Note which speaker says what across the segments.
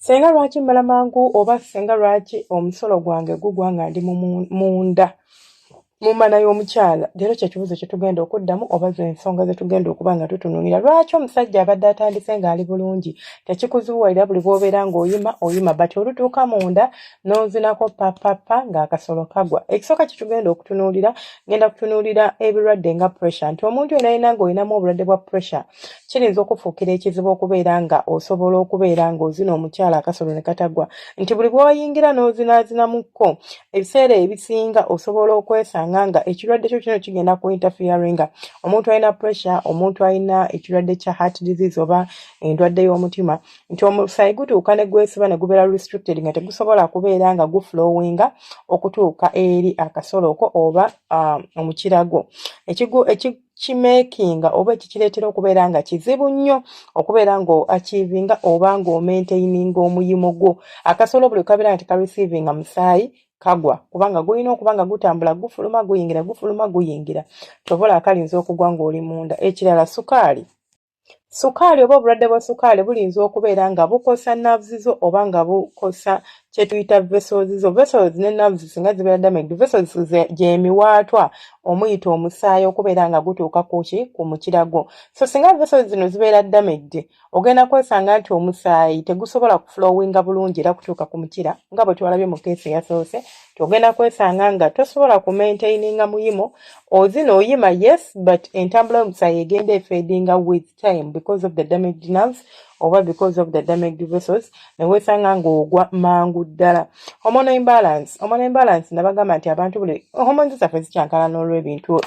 Speaker 1: senga lwaki mbala mangu oba senga lwaki omusolo gwange gugwa nga ndi munda mu mmana y'omukyala leero kyekibuzo kyetugenda okuddamu oba zensonga zetugenda okuba nga tutunulira lwaki omusajja abadde atandise ng'ali bulungi tekikuzuwaira buli bwobeera ng'oyima oyima but olutuuka munda n'ozinako papapa ng'akasolo kagwa ekisooka kyetugenda okutunulira ngenda kutunulira ebirwadde nga pressure nti omuntu yena yena ng'olinamu obulwadde bwa pressure kiyinza okufuukira ekizibu okubeera nga osobola okubeera ng'ozina omukyala akasolo ne katagwa nti buli bw'oyingira n'ozinaazinamuko ebiseera ebisinga osobola okwesanga nga ekirwadde kyo kino kigenda ku interferinga omuntu alina pressure omuntu alina ekirwadde kya heart disease oba endwadde y'omutima nti omusaayi gutuuka ne gwesiba ne gubeera restricted nga tegusobola kubeera nga guflowinga okutuuka eri akasoloko oba ah, omukiragwo kimekinga oba ekikireetera okubeera nga kizibu nnyo okubeera nga achivinga oba nga omaintaininga omuyimo gwo akasolo buli kabeera nti karecivinga musaayi kagwa kubanga gulina okuba nga gutambula gufuluma guyingira gufuluma guyingira kyobola akalinza okugwa ng'oli munda ekirala sukaali Sukaali oba obulwadde bwa sukaali buyinza okubeera nga bukosa nerves zo oba nga bukosa kye tuyita vessels zo. Vessels ne nerves singa zibeera damaged, vessels gye miwaatwa omuyita omusaayi okubeera nga gutuuka ku ki ku mukira gwo. So singa vessels zino zibeera damaged, ogenda kwesanga nti omusaayi tegusobola kuflowinga bulungi era kutuuka ku mukira nga bwe twalabye mu keesi eyasoose ogenda kwesanga nga tosobola ku maintaininga muyimo ozina oyima yes but entambula yomusayi egenda efedinga with time because of the damaged nerves oba because of the damaged vessels newesanga ngaogwa mangu ddala hormone imbalance hormone imbalance nabagamba nti abantu buli hormones zaffe zikyankala n'olwebintu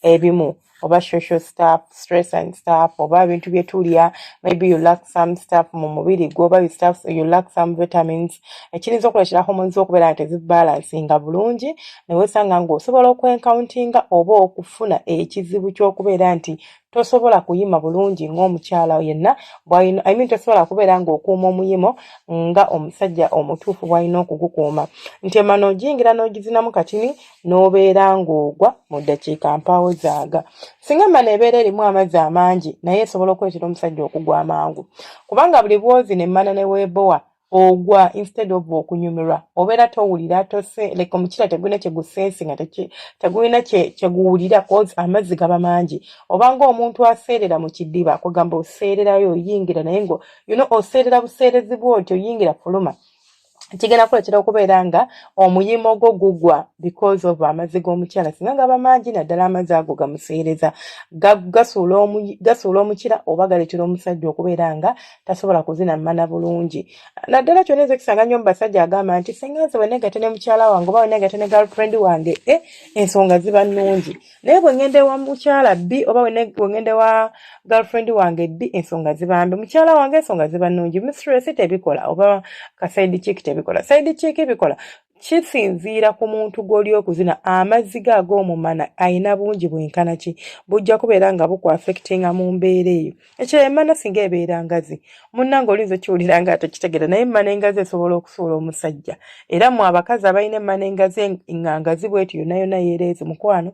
Speaker 1: ebimu oba social stuff stress and stuff oba ebintu byetulya maybe you lack some stuff mu mubiri gwo oba you, stuff, you lack some vitamins ekiyinza okuleetera hormones okubeera nti zibalansinga bulungi newesanga ngaosobola okwencountinga oba okufuna ekizibu kyokubeera nti tosobola kuyima bulungi ng'omukyala yenna bwalina I mean tosobola kubeera ng'okuuma omuyimo nga omusajja omutuufu bwalina okugukuuma nti emana ogiyingira n'ogizinamu katini n'obeera ng'ogwa mu ddakiika mpaawo zaaga singa emmana ebeera erimu amazzi amangi naye esobola okuleetera omusajja okugwa amangu kubanga buli bwozi nemmana ne weebowa ogwa instead of okunyumirwa obeera towulira tose like omukiira tegulina kyegusensi nga tegulina kyeguwulira cause amazzi gaba mangi obanga omuntu aseerera mu kidiba kugamba oseererayo oyingira naye ngo you know oseerera buseerezi bwoti oyingira fuluma kigenda kuleetera okubeera nga omuyimo gwo gugwa because of amazzi g'omukyala singa gaba mangi naddala amazzi ago gamuseereza gasuula omukira oba galeetera omusajja okubeera nga tasobola kuzina mana bulungi naddala kyona enze kisanga nnyo mubasajja agamba nti singa nze wenegate ne mukyala wange oba wenegate ne girlfriend wange e ensonga ziba nnungi naye bwe ŋŋenda ewa mukyala bbi oba bwe ŋŋenda ewa girlfriend wange bbi ensonga zibambi mukyala wange ensonga ziba nnungi mistress tebikola oba ka side chick tebikola side chick bikola kisinziira ku muntu gw'oli okuzina amazzi ge ag'omumana alina bungi bwenkana ki bujja kubeera nga bukuafectinga mu mbeera eyo ekirala emana singa ebeera ngazi munnange olinza okiwulira nga atekitegera naye emana engazi esobola okusuula omusajja era mu abakazi abalina emana engazi nga ngazi bweti yonna yonna yeereezi mukwano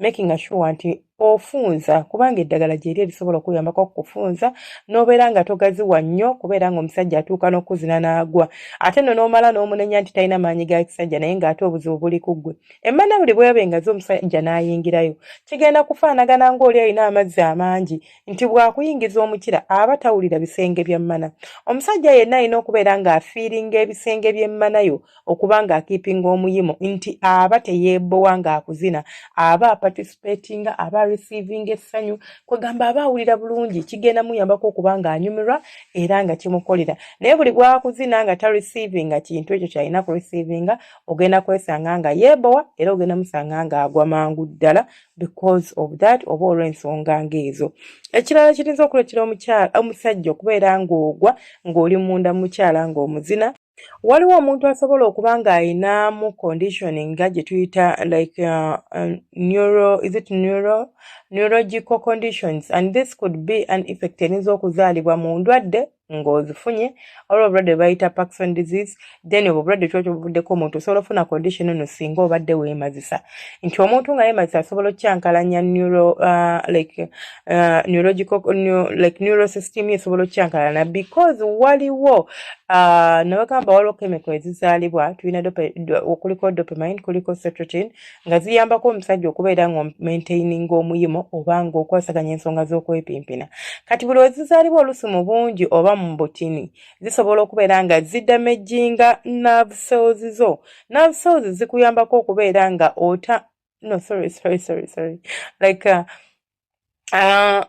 Speaker 1: making asure nti ofunza kubanga eddagala gyeri erisobola okuyambako okukufunza n'obeera nga togaziwa nnyo kubeera nga omusajja atuuka n'okuzina n'agwa ate no n'omala n'omunenya nti talina maanyi ga kisajja naye ng'ate obuzibu buli ku ggwe emmana buli bweba engazi omusajja n'ayingirayo kigenda kufaanagana ng'oli alina amazzi amangi nti bw'akuyingiza omukira aba tawulira bisenge bya mmana omusajja yenna alina okubeera ng'afiiringa ebisenge by'emmana yo okuba ng'akiipinga omuyimo nti aba teyeebowa ng'akuzina aba apatisipeetinga aba receivinga essanyu kwegamba aba awulira bulungi kigenda muyambako okuba ng'anyumirwa era nga kimukolera naye buli bwakuzina nga ta receivinga kintu ekyo kyalina ku receivinga ogenda kwesanga nga yeebowa era ogenda musanga ng'agwa mangu ddala because of that oba olw'ensonga ng'ezo ekirala kirinza okuleetera omukyala omusajja okubeera ng'ogwa ng'oli munda mukyala ng'omuzina waliwo omuntu asobola okuba ng'alinamu condition nga gye tuyita like uh, uh, neuro is it neuro neurological conditions and this could be an effect erinza okuzaalibwa mu ndwadde ng'ozifunye olwo obulwadde bwebayita paxon disease then obwo obulwadde kyokyo buvuddeko omuntu osobola ofuna condition eno singa obadde weemazisa nti omuntu nga yeemazisa asobola okukyankalanya neuro uh, like uh, neurological new, like neurosystem esobola okukyankalana because waliwo uh, nabagamba waliwo chemical ezizaalibwa tulina okuliko dopamine kuliko setrotin nga ziyambako omusajja okubeera nga omaintaininga omuyimo oba nga okwasaganya ensonga z'okwepimpina kati buli wezizaalibwa olusi mu bungi oba mu butini zisobola okubeera nga zidamejinga nerve cells zo nerve cells zikuyambako okubeera nga ota no sorry sorry sorry sorry like uh, Uh,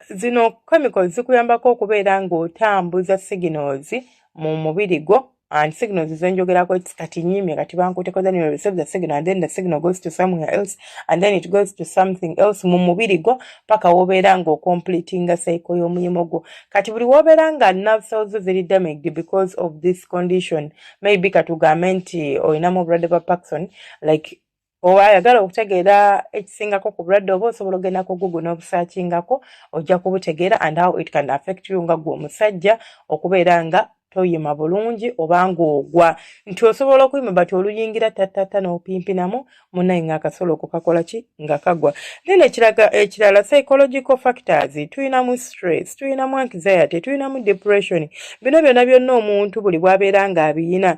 Speaker 1: zino chemicals zikuyambako okubeera ng'otambuza signals mu mubiri gwo and signals zenjogerako its kati nyimye kati bankuteko then you receive the signal and then the signal goes to somewhere else and then it goes to something else mu mubiri gwo paka wobeera nga ocompletinga cycle y'omulimu gwo kati buli wobeera nga nerve cells ziri damaged because of this condition maybe katugambe nti olinamu obulwadde bwa paxon like oba ayagala okutegeera ekisingako ku bulwadde oba osobola ogenda ku google n'obusakingako ojja kubutegeera and how it can affect you nga gwe omusajja okubeera nga toyima bulungi oba ng'ogwa nti osobola okuyima bati oluyingira tattata n'opimpinamu munaye ng'akasolo okukakola ki nga kagwa then ekiraga ekirala psychological factors tuyinamu stress tuyinamu anxiety tuyinamu depression bino byonna byonna omuntu buli bwabeera ng'abiyina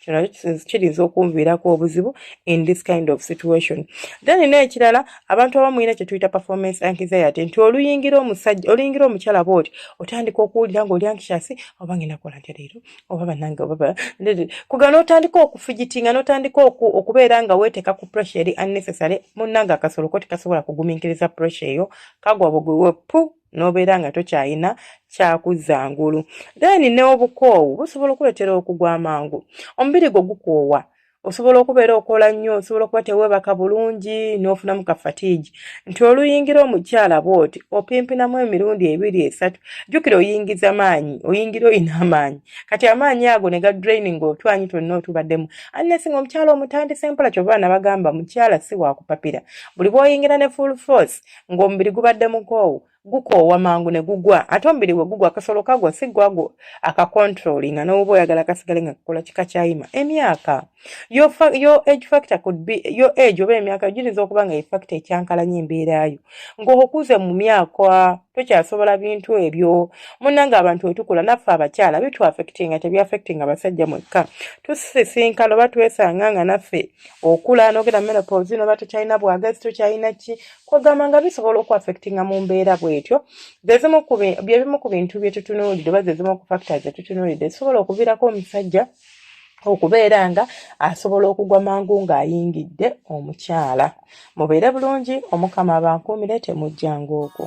Speaker 1: kino kiyinza okunviirako obuzibu in this kind of situation then n'ekirala abantu abamu ina kye tuyita performance anxiety nti oluyingira omusajja oluyingira omukyala booti otandika okuwulira ng'oli anxiasi oba ngenda kola ntya leero oba banange oba kuga n'otandika okufigitinga n'otandika okubeera nga weeteeka ku pressure eri unnecessary munnange akasolo ko tekasobola kugumiikiriza pressure eyo kagwa bugwiwe pu nobeera nga tokyalina kyakuzza ngulu then n'obukoowu busobola okuleetera okugwa amangu omubiri gwo gukoowa osobola okubeera okola nnyo osobola okuba teweebaka bulungi n'ofunamu ka fatiigi nti oluyingira omukyala bwoti opimpinamu emirundi ebiri esatu jjukira oyingiza maanyi oyingira olina amaanyi kati amaanyi ago ne ga draining otwanyi twonna otubaddemu annesi nga omukyala omutandise mpola kyova nabagamba mukyala si wakupapira buli bwoyingira ne full force ng'omubiri gubadde mukoowu gukoowa mangu ne gugwa ate omubiri bwe gugwa akasolo kagwa si gwagwo akakontrolinga n'oba oyagala kasigale nga kakola kika kyayima emyaka yo age factor could be yo age oba emyaka giyinza okuba nga efacto ekyankalanya embeerayo ng'okuze mu myaka tokyasobola bintu ebyo munanga abantu wetukula naffe abakyala bitwafectinga tebyafectinga abasajja mwekka tusisinkana oba twesanga nga naffe okula nogera menopause noba tokyalina bwagazi tokyalina ki kwegamba nga bisobola okuaffectinga mu mbeera bwetyo byebimu ku bintu byetutunuulidde oba zezimu ku factor zetutunuulidde zisobola okuviirako omusajja okubeera nga asobola okugwa mangu ng'ayingidde omukyala mubeere bulungi omukama abankuumire temujjanga ogwo